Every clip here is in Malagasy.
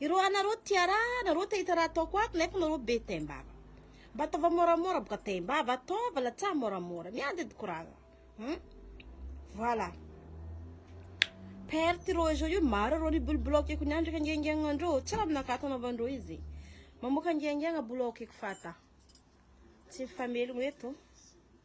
Ireo anareo tia raha, nareo te hita raha ataoko ato nefa nareo be taim-bava. Mba ataova moramora boka taim-bava, ataova latsaha moramora. Miady edy courage. Hum? Voilà. Perte ireo izao io maro ireo ny bol block eko niandraka angengiagna andreo. Tsy raha aminakahy atao anaovandreo izy. Mamoaka angengiagna bol aokeko fata. Tsy mifamelogno eto.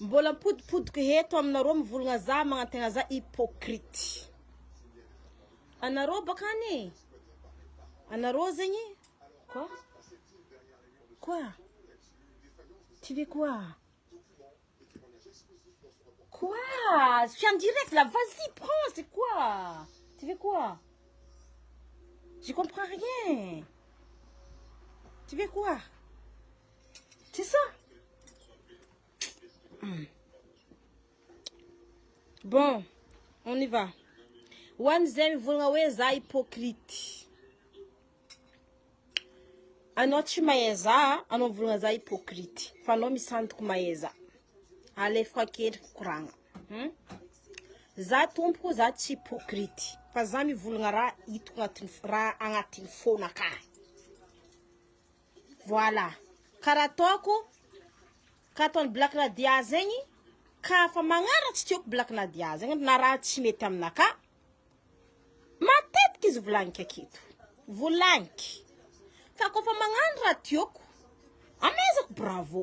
Mbola mipodipodiko eto aminareo mivolagna za magnantegna za hypocrite anareo bakany e anareo zegny ko quoi tu veux quoi quoi je suis en direct là vas y prends c'est quoi tu veux quoi je comprends rien tu veux quoi. Tsy sa? Bon, on y va. Ho an'izay mivolagna hoe za hypocrite. Anao tsy mahay za, anao mivolagna za hypocrite. Fa anao misandoka mahay za. Alefako an-kendriko koragna. Hum? Za tompoko, za tsy hypocrite. Fa za mivolagna raha hitako agnatin'ny raha agnatin'ny fona akagny. Voilà. Karaha ataoko, ka ataon'i Black Nadia zegny, ka fa magnara tsy tiako Black Nadia zegny na raha tsy mety aminakahy, matetiky izy volagniko aketo, volagniko, fa kôfa magnano raha tiako, amezako bravo.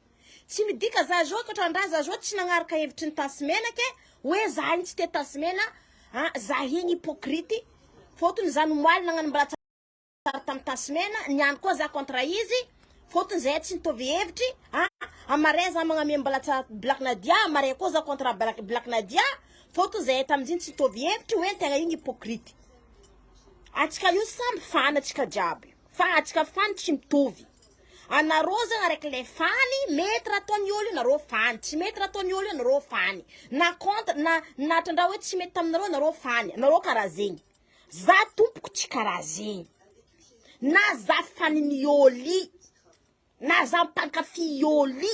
Tsy midika za zao toa trandraza zao tsy nagnaraka hevitry ny tasimenaka e, hoe za igny tsy tia tasimena a, za igny hypocrite, fotony za nomaly nagnano mbaratsaraka tsara tam tasimena, niany koa za contre izy, fotony zahay tsy mitovy hevitry a, am marais za magname mbalatsara black nadia, am marais koa za contre black black nadia, fotony zahay tamizigny tsy mitovy hevitry hoe tegna igny hypocrite, atsika io samy fan atsika jiaby, fa atsika fan tsy mitovy. Anareo zany araka le fany mety raha ataony olo io nareo fany tsy mety raha ataony olo io nareo fany na contre na na trandraha hoe tsy mety taminareo nareo fany anareo karaha zegny za tompoko tsy karaha zegny na za faniny ôly na za mpankafy ôly.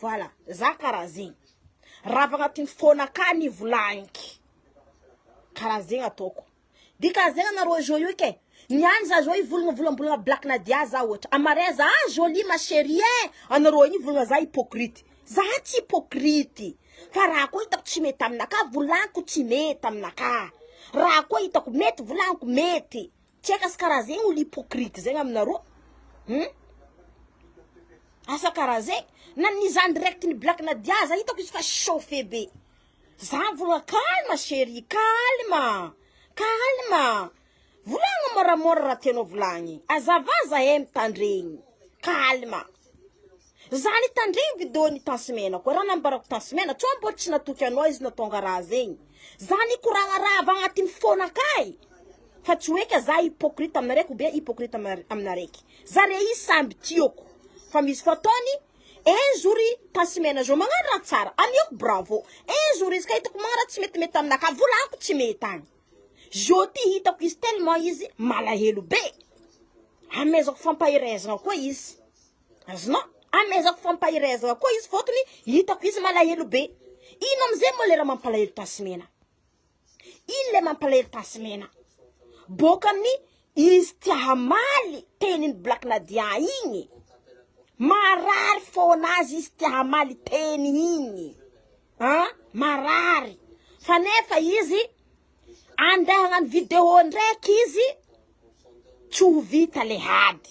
Voilà, za karaha zegny. Raha avy agnatin'ny fotoana ka ny volagniko, karaha zegny ataoko. Dia karaha zegny anareo joyeux ika e. Ny any za zao hivolagna volambolagna black nadia za ohatra. Amin'ny mariage, ah jolie ma cherie eh! Anareo any hivolagna za hypocrite. Za tsy hypocrite. Fa raha koa hitako tsy mety aminakahy, volagniko tsy mety aminakahy. Raha koa hitako mety, volagniko mety. Tsy eka sy karaha zegny olo hypocrite zegny aminareo hum asa karaha zegny na ny zandry raiky ny black nadia za hitako izy fa chauffe be za mivolagna calme cherie calme calme volagno môramôra raha tianao volagny azava zahay mitandregny calme. Zany tandremby do ny tansimena koa raha nambarako tansimena tsao mbola tsy natoky anao izy na tonga raha zegny zany hikoragna raha avy agnatin'ny fona kay fa tsy hoe ka za hypocrite aminareko be hypocrite aminaraiky zare izy samby tiako fa misy fotoany un jour tansimena zao magnano raha tsara amiako bravo un jour izy ka hitako magnano raha tsy metimety amina ka volako tsy mety agny zo ty hitako izy tellement izy malahelo be amezako fampaherezagna koa izy Azonao amehezako fa mpahiray azy avokoa izy fotony hitako izy malahelo be. Ino amizay moa le raha mampalahelo tasimena? Ino le mampalahelo tasimena? Boka amin'ny izy tsy hamaly tenin'i Black Nadia igny. Marary foana azy izy tsy hamaly teny igny. Ah, marary. Fa nefa izy andeha hagnano vidéo ndraiky izy tsy ho vita le hady.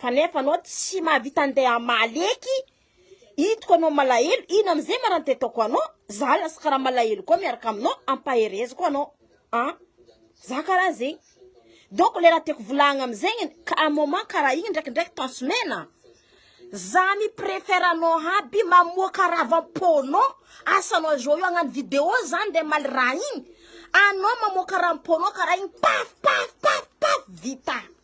Kanefa anao tsy mahavita andeha hamaly eky, hitako anao malahelo, ino amizay ma raha nitetaoko anao, za lasa karaha malahelo koa miaraka aminao, ampahereziko anao an, za karaha zegny, donc le raha tiako volahagna amizegny, ka un moment karaha igny ndraikindraiky temps mena, za mi prefère anao aby mamoaka raha avy amponao, asa anao zao io agnano video za ndeha hamaly raha igny, anao mamoaka raha amponao karaha igny, paf paf paf paf vita.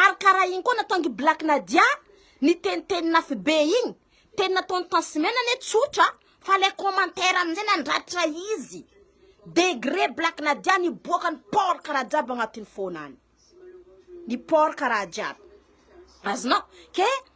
Ary karaha igny koa nataon'gy black Nadia niteniteny nafy be igny teny nataony tansmena anie tsotra fa le commentaire amizay nandratra izy degre black Nadia niboaka ny port karaha jiaby agnatiny fona any ny port karaha jiaby azonao ke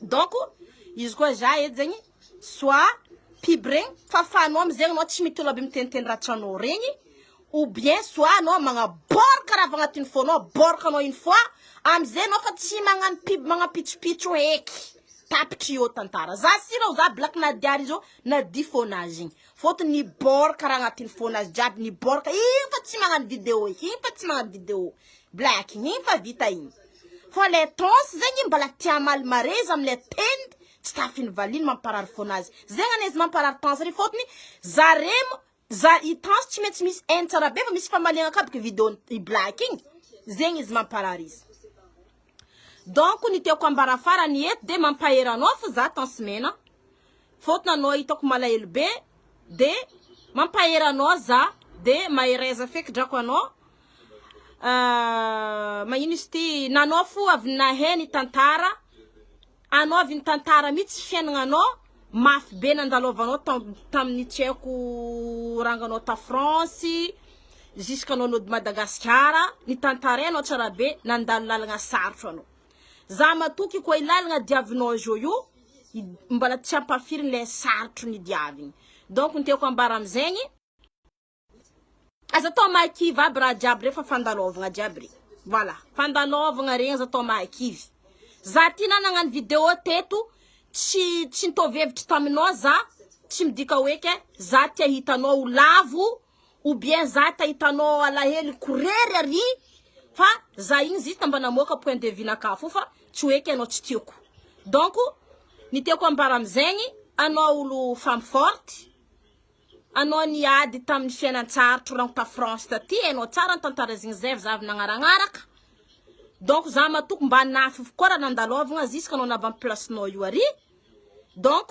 Donc izy koa za eto zegny soit pub regny fafanao amizegny anao tsy mitolona be miteniteny raha tianao regny ou bien soit anao magnaborka raha avy agnatin'ny fonao aborka anao une fois amizay anao fa tsy magnano pub magnapitsopitso heky tapitry eo tantara za si reo za black nadia ry zao nadia fonazy igny fôtony niborka raha agnatin'ny fonazy jiaby niborka igny fa tsy magnano video igny fa tsy magnano video black igny fa vita igny Fa le trans zegny mbala te hamaly marez amle tend tsy tafiny valiny mamparary fona azy zegny anie izy mamparary tans anie fotony zarem za i tans tsy maintsy misy haine tsara be fa misy famaliagna ka bky video i black igny zegny izy mamparary izy donc ny tiako ambara farany eto de mampahery anao fo za tans mena Faute nanao hitako malahelo be de mampahery anao za de mahereza feky drako anao ahh magnino izy ty nanao fo avy nahay ny tantara anao avy ny tantara mitsy fiainagnanao mafy be nandalovanao tam taminy tsy haiko ranganao ta France jusqu'anao nody Madagasikara nitantarainao tsara be nandalo lalagna sarotro anao. Za matoky koa i lalagna diavinao an jojo mbala tsy ampafiriny le sarotro ny diaviny donc ny tiako ambara amzegny aza atao mahakivy aby raha jiaby re fa fandalaovagna jiaby re voilà fandalaovagna regny aza atao mahakivy za ty na nagnano video teto tsy tsy nitovy hevitry taminao za tsy midika hoe ke za te hitanao ho lavo Ou bien za ta hitanao ao alahelo ko rery ary fa za igny zista mba namoaka point de vue nakahy fo fa tsy ho eky anao tsy tiako donc ny tiako ambara amzegny anao olo femme forte anao niady taminy fiainantsarotro rano ta France taty hainao tsara ny tantara zigny zay avy za avy nagnaragnaraka donc za matoky mba nafy koa raha nandalôvagna ziska anao navy am place nao io ary donc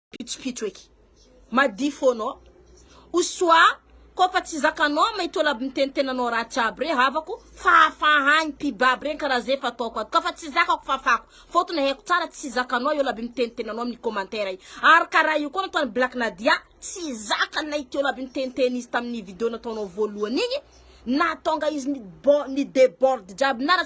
pitsopitso eky. Madia foana ô. O soa koa fa tsy zakanao may tola aby mitenitenanao ratsy aby re havako fa hafahagny pib aby regny karaha ze fa ataoko ato ka fa tsy zakako fafako fotony haiko tsara tsy zakanao eo la aby mitenitenanao amin'ny commentaire y ary karaha io koa nataony black nadia tsy zaka nay teo la aby niteniteny izy tamin'ny video nataonao voalohany igny nahatonga izy ni- bo- ni deborde jiaby nara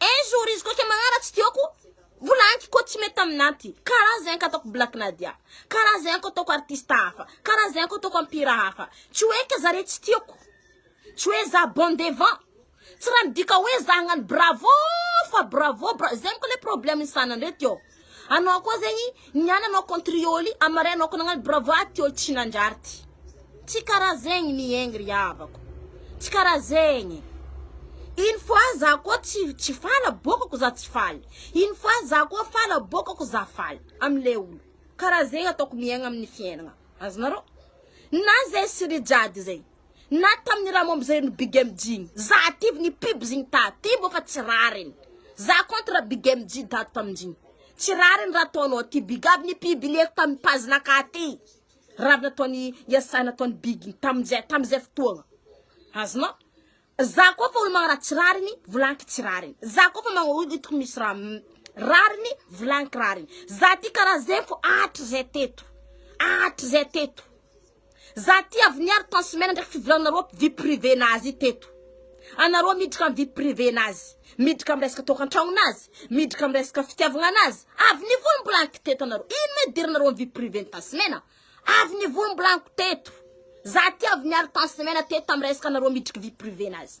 Un jour izy koa ke magnara tsy tiako Mbola anky koa tsy mety aminah ty Karaha zay anka ataoko Black Nadia Karaha zay anka ataoko artiste hafa Karaha zay anka ataoko am mpihira hafa Tsy hoe ke zare tsy tiako Tsy hoe zah bon devant Tsy raha midika hoe zah hagnano bravo fa bravo bra Zay moko le problème ny sanany reto ô Anao koa zegny niany anao contrioly am maray anao koa nagnano bravo ah ty ol tsy nandrary ty tsy karaha zegny miegny ry havako tsy karaha zegny une fois za koa tsy tsy faly aboakako za tsy faly une fois za koa faly aboakako za faly am le olo karaha zegny ataoko miegna aminy fiainagna azonareo na zay sy ry jady zegny. Na tamin'ny raha momba izay ny Big MJ igny. Za ativy ny pubs igny ta aty mbô fa tsy rariny. Za contre Big MJ dato tamin-jigny. Tsy rariny raha ataonao aty Big. Avy ny publieko tamin'ny page nakà aty. Raha avy nataon'i Yasah nataon'i Big igny tamin-jay tamin'izay fotoagna. Azonao? Za koa fa olo magnaraha tsy rariny, volagniko tsy rariny. Za koa fa magna olo hitako misy raha m- rariny, volagniko rariny. Za ty karaha zay fô hatrizay teto. Hatrizay teto. Za ty avy niaro tant semaine ndraiky fivolananareo vie privée nazy teto. Anareo miditra am vie privée nazy, miditra am resaka tokantragno nazy, miditra am resaka fitiavagna nazy, avy nivory mbola aniko teto anareo, ino moa idiranareo am vie privée ny tant semaine? Avy nivory mbola aniko teto. Za ty avy niaro tant semaine teto tam resaka anareo miditry vie privée nazy.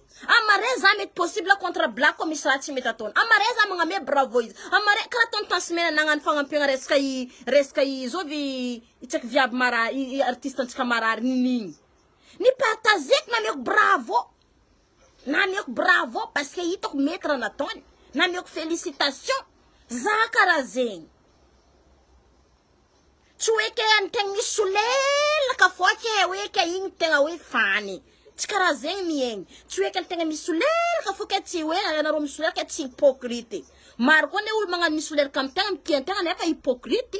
Am marais za mety possible contre black ko misy raha tsy mety ataony. Am marais za magname bravo izy. Am marais kara ataony tansimena nagnano fagnampiagna resaka i resaka i zao ve i tsaiky viavy mara i i artiste antsika marary ninigny. Ni partageko nameko bravo. Nameko bravo parce que hitako mety raha nataony. Nameko felicitation. Za kara zegny. Tsy hoe ke any tegna misy solelaka foa ke hoe ke igny tegna hoe fany, tsy karaha zegny mihaigny, tsy hoe ke tegna misy solelaka fô ke tsy hoe ianareo misolelaka tsy hypocrite, maro koa anie olo magnano misolelaka amy tegna mitia an-tegna nefa hypocrite,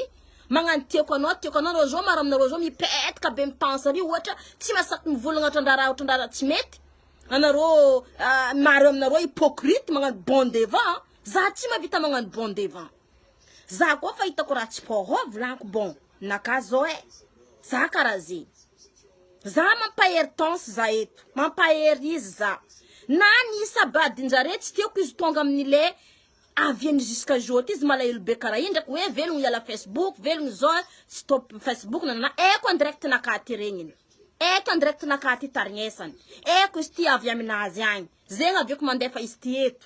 magnano tiako anao tiako anao, nareo zao maro aminareo zao mipetaka be amy tany sary ohatra tsy mahasaky mivolagna otran-draha otran-draha tsy mety, anareo maro aminareo hypocrite magnano bon devant, za tsy mahavita magnano bon devant. Za koa fa hitako raha tsy poro vilaniko bon naka zao eh za karaha zegny za mampahery tence za eto mampahery izy za na ny sabadinjare tsy tiako izy tonga aminy le avy eny jusqu'à jour ty izy malahelo be karaha igny ndraiky hoe velogno hiala facebook velogno zao tsy top facebook nanana eko en direct naka ty regniny eko en direct naka ty tarignesany eko izy ty avy aminazy agny zegny avy eko mandefa izy ty eto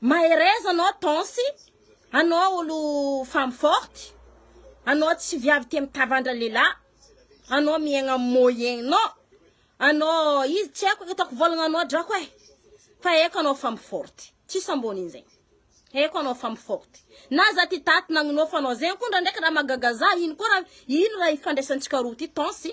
Mahereza anao Tonsy, anao olo femme forte, anao tsy viavy tia mitavandra lehilahy, anao miaigna amin'ny moyen-nao, anao izy tsy haiko hitako volagna anao drako eh, fa haiko anao femme forte, tsisy ambonin'izegny, haiko anao femme forte, na za ty taty nagninofa anao zegny koa ndraindraiky raha mahagaga za, ino koa raha, ino raha ifandraisantsika roa ty Tonsy.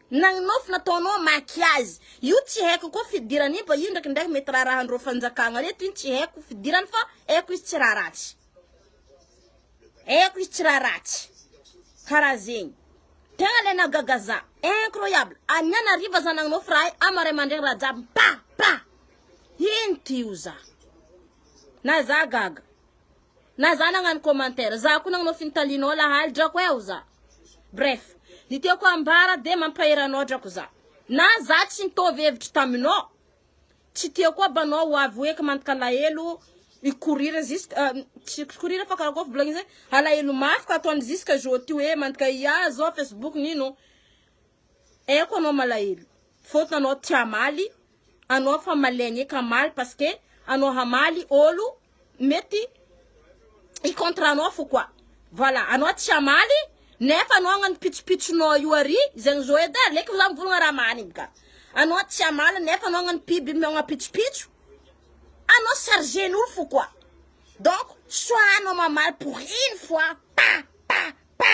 Nagninoa fa nataonao an makiazy io tsy haiko koa fidiran io ba io ndraiky ndraiky mety raharahan reo fanjakagna reto iny tsy haiko fidirany fa haiko izy tsy raha ratsy haiko izy tsy raha ratsy karaha zegny tegna le nahagaga za incroyable aniany hariva za nagninoa fa raha ama ray aman-dregny raha jiaby mipapà ino ty oza na za gaga. Na za nagnano commentaire, za koa nagnao fintalinao lahaly drako eo za. Bref, ny tiako hambara dia mampahery anao drako za. Na za tsy nitovy hevitra taminao, tsy tiako koa ba anao ho avy hoe ka mankalahelo i Korir jusqu tsy Korir fa karakory volagniny zay, alahelo mafy ka ataony jusqu'à jour ty hoe mandika hiahy zao facebook nino, Haiko anao malahelo faute anao tsy hamaly anao fa malaigne ka hamaly parce que anao hamaly olo mety hi contre anao fo quoi voilà anao tsy hamaly nefa anao agnano pitsopitsonao io ary zegny zo edy aleko za mivolagna raha marigny ka anao tsy hamaly nefa anao agnano piby miogna pitsopitso anao chargen'olo fo quoi donc soit anao mamaly pour une fois pa pa pa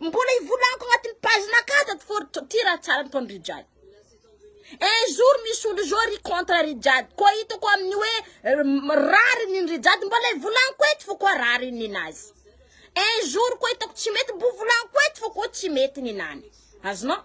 Mbola ivolagako agnatin'ny page nakà tato for ty raha tsara nataon'i Rijade. Un jour misy olo zao ry contre Rijade koa hitako amin'ny hoe eh, rariny ny Rijade mbola ivolagako eto fa koa rariny ninazy. Un jour koa hitako tsy mety mbo volagako eto fa koa tsy mety ninany. Azonao?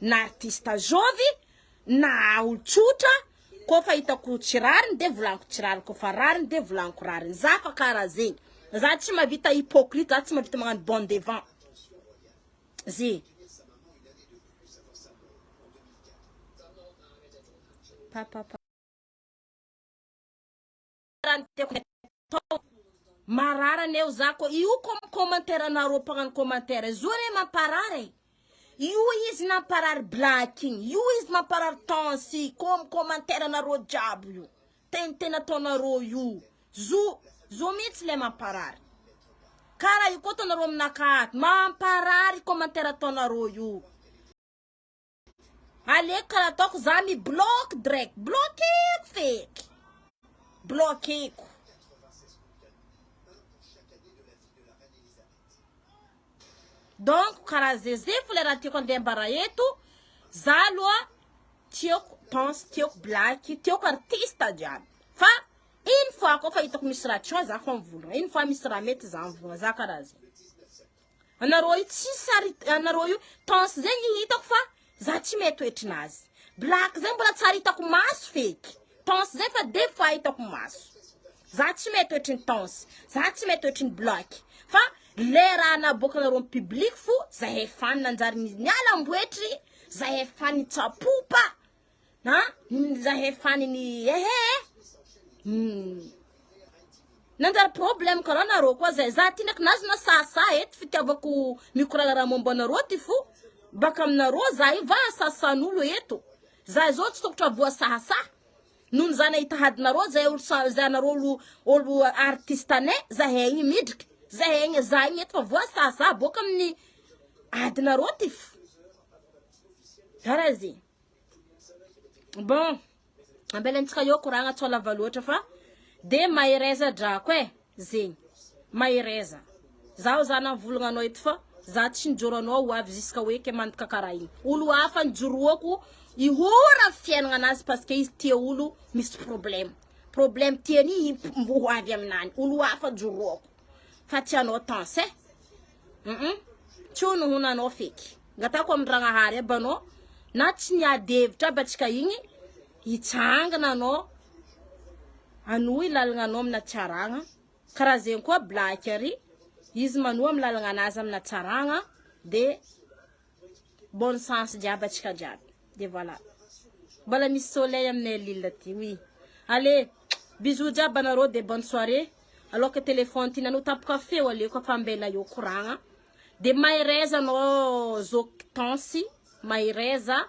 na artista zovy na olon-tsotra ko fa hitako tsy rariny de volaniko tsy rariny ko fa rariny de volaniko rariny za fa karaha zegny za tsy mavita hypocrite za tsy mavita magnano bon devant ze pa pa pa raha ny tiako atao. Marary anie ho za ko. Io ko commentaire anareo mpagnano commentaire io zao anie mamparary e. Io izy namparary black igny. Io izy mamparary tansy ko commentaire anareo jiaby io. Teniteny ataonareo io. Zo zo mintsy le mamparary. Kara io ko ataonareo aminakahy ato. Mamparary commentaire ataonareo io. Aleoko karaha ataoko za mi block direct blockeko feky blockeko. Donc karaha zeze fo le raha tiako andembara eto za aloha tiako pense tiako blaky tiako artiste jiaby fa une fois ko fa hitako misy raha tsy ho ahy za fo mivonona une fois misy raha mety za mivonona za karaha zay. Anareo io tsy sary anareo io tence zay ny hitako fa za tsy mahay toetrinazy black zay mbola tsary hitako maso feky tence zay fa de fa hitako maso za tsy mahay toetry ny tence za tsy mahay toetry ny black fa le raha naboakanareo am public fo zahay fan nanjary niala amboetry zahay fan nitsapopa Ha? Zah efany ni ehe eh. Hmm. Nanjary problème ko raha nareo koa zay. Za ty ndraiky nazy na sasa eto fitiavako mikorala raha momba anareo ty fo. Baka aminareo za io va sasan'olo eto. Za izao tsy tokotra voasasa. Noho za nahita hadinareo zay olo sa za nareo olo olo artiste ne za egny midriky. Za egny za egny eto fa voasasa boka amin'ny adinareo ty fo. Karaha zegny. Bon, ampelantsika eo koragna tsy lava loatra fa de mahereza drako e, zegny, mahereza, zaho zany mivolagna anao eto fa za tsy mijoro anao ho avy ziska hoe ke mandoka karaha igny, olo hafa nijoroako ihora am fiainagna anazy parce que izy tia olo misy problème, problème tiany i mbo ho avy aminany, olo hafa joroako. fa tsy hanao tense eh hum tsy hono hono anao feky ngatako amin-dragnahary aby anao na tsy niady hevitra aby atsika igny hitsangana anao anohy lalagna anao amina tsy aragna karaha zegny koa black ary izy manohy amy lalagna anazy amina tsaragna de Bonne chance jiaby atsika jiaby de voilà Mbola misy soleil aminay à Lille aty oui Allez bisous jiaby anareo de bonne soirée Aloaka téléphone ty nanao tampoka feo aleoko ampambela eo koragna De mahereza anao Zoky Tansy mahereza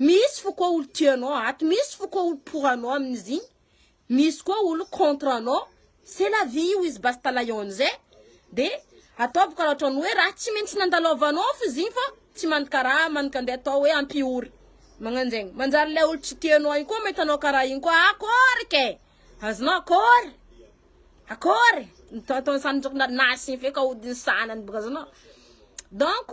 Misy fo koa olo tia anao ato, misy fo koa olo pour anao amin'izigny, misy koa olo contre anao, c'est la vie io izy basta lions eh! de ataovy karaha otrany hoe raha tsy maintsy nandalovanao fo izigny fa tsy man karaha man ka ndeha atao hoe ampihory magnanjegny, manjary ilay olo tsy tia anao igny koa mahita anao karaha igny koa akôry ke! azonao akôry? akôry? ny ataony samy na asigny feo kaodiny sanany boka azonao donc.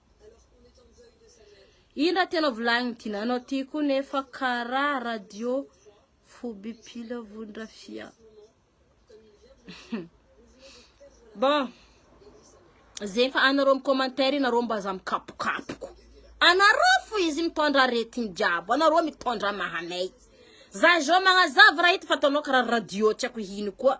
Ino raha tena volagniny Dinana aty koa nefa kara radio fobipila vondrafia. Bon, zay fa anareo amin'ny commentaire nareo mba aza mikapokapoko. Anareo fo izy mitondra aretigny jiaby, anareo mitondra mahamey. Za zao magnazava raha ito fa ataonao kara radio tsy haiko ino koa.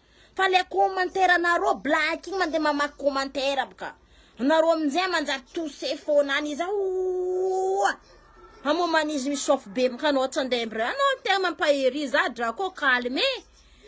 fa le commentaire nareo black igny mande mamaky commentaire aby ka nareo amizay manjary tousse fona any iza ooaa hamoman izy misôfo be mkany ôhatra ndray ndray anao tegna mampahery za dra ko calme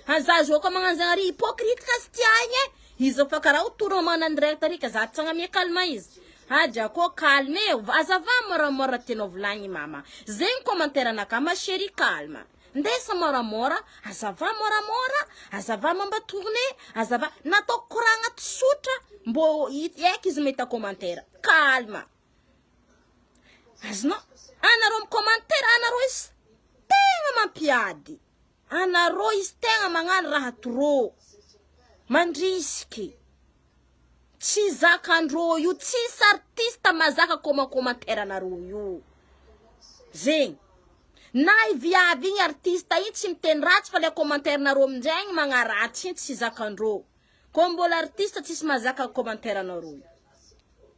fa za zao ko magnano za ary hypocrite ka tsy tia igny e izy fa kara ho tour magnano any direct ary ka za tsy agname calme izy ha dra ko calme azava moramora tianao volagniny mama zegny commentaire anakahy ma cherie calme. Ndesa moramora, azava moramora, azava mamba tourne, azava nataoko koragna tsotra mbô hiaiky izy mahita commentaire. Calme. Azonao anareo mi commentaire anareo izy tegna mampiady. Anareo izy tegna magnano raha trop. Mandrisiky. Tsy zakandro io tsisy artiste mazaka comment commentaire anareo io zegny na i viavy igny artiste igny tsy miteny ratsy fa le commentaire nareo amizay igny magnaratsy igny tsy zakandro ko mbola artiste tsisy mazaka commentaire anareo io.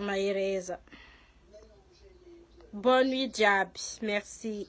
Mahereza. Bonne nuit jiaby. Merci.